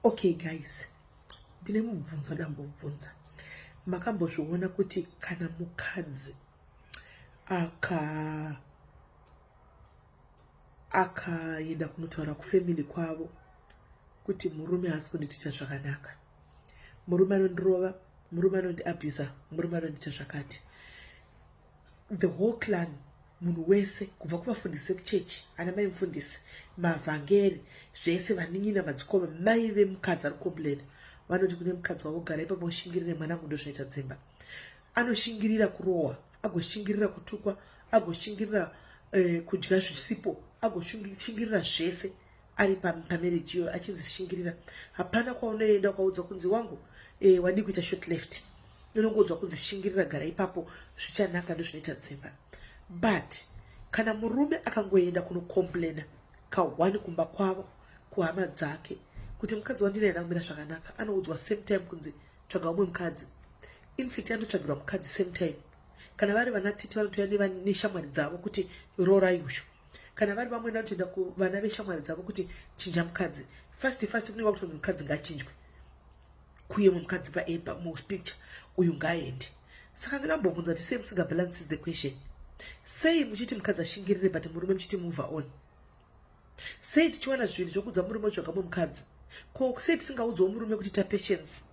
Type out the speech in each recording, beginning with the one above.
okay guys ndine mubvunzo ndambobvunza makambozviona kuti kana mukadzi aka akaenda kunotaura kufamily kwavo kuti murume haasi kundiitita zvakanaka murume anondirova murume anondiabuser murume anondiita zvakati the whole clan munhu wese kubva kuvafundisi vekuchechi ana mai mufundisi mavhangeri zvese vanin'ina madzikoma mai vemukadzi ari komplaina vanoti kune mukadzi wavo gara ipapo ushingirire mwana kundo zvinoita dzimba anoshingirira kurohwa agoshingirira kutukwa agoshingirira eh, kudya zvisipo agoshingirira zvese ari pamarriage iyoyo achinzi shingirira hapana kwaunoenda ukaudzwa kunzi wangu e, wadii kuita short left unongoudzwa kunzi shingirira gara ipapo zvichanaka ndozvinoita dzimba but kana murume akangoenda kunocomplaina kahwani kumba kwavo kuhama dzake kuti mukadzi wandinaye ndakumira zvakanaka anoudzwa same time kunzi tsvaga umwe mukadzi infact anotsvagirwa mukadzi same time kana vari vanatiti vanotouya neshamwari dzavo kuti rorai usho kana vari vamwe vanotoenda kuvana veshamwari dzavo kuti chinja mukadzi fast fast kunenge kutonzi mukadzi ngachinjwe kuye mwe mukadzi paepa muspicture uyu ngaaende saka ndinambobvunza kuti sei musinga balance the question sei muchiti mukadzi ashingirire but murume muchiti move on sei tichiwana zvinhu zvokudza murume zvakamwe mukadzi ko sei tisingaudzawo murume kuti tapatience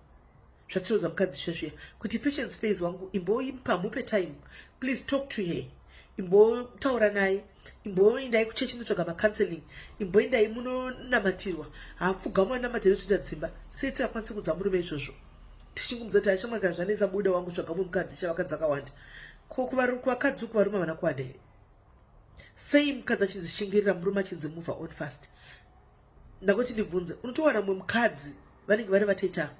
zvatiroza mukadzi shashiya kuti patience pays wangu imboipa mupe time please talk to her imbotaura naye imboindai kuchechi munotsvaga macounseling imboindai munonamatirwa hapfugamwa namatiro tsvita dzimba seti akwanisi kudza murume izvozvo tichingumudza kuti ashamwa kana zvanetsa buda wangu tsvaga mumwe mukadzi chavakadzi akawanda ko kuvakadzi uku varume havana kuwanda here sei mukadzi achinzi shingirira murume achinzi move on fast ndakoti ndibvunze unotowana mumwe mukadzi vanenge vari vateta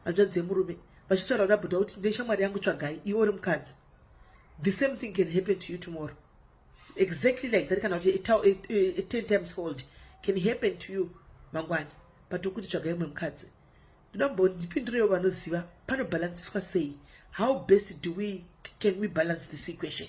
hanzvadzi dzemurume vachitaura kuna bhuda kuti ndeshamwari yangu tsvagai iwe uri mukadzi the same thing can happen to you tomorrow exactly like that kana kuti ten times fold can happen to you mangwani but ukuti tsvagai umwe mukadzi ndoda mbondipindurewo vanoziva panobhalansiswa sei how best do we can we balance this equation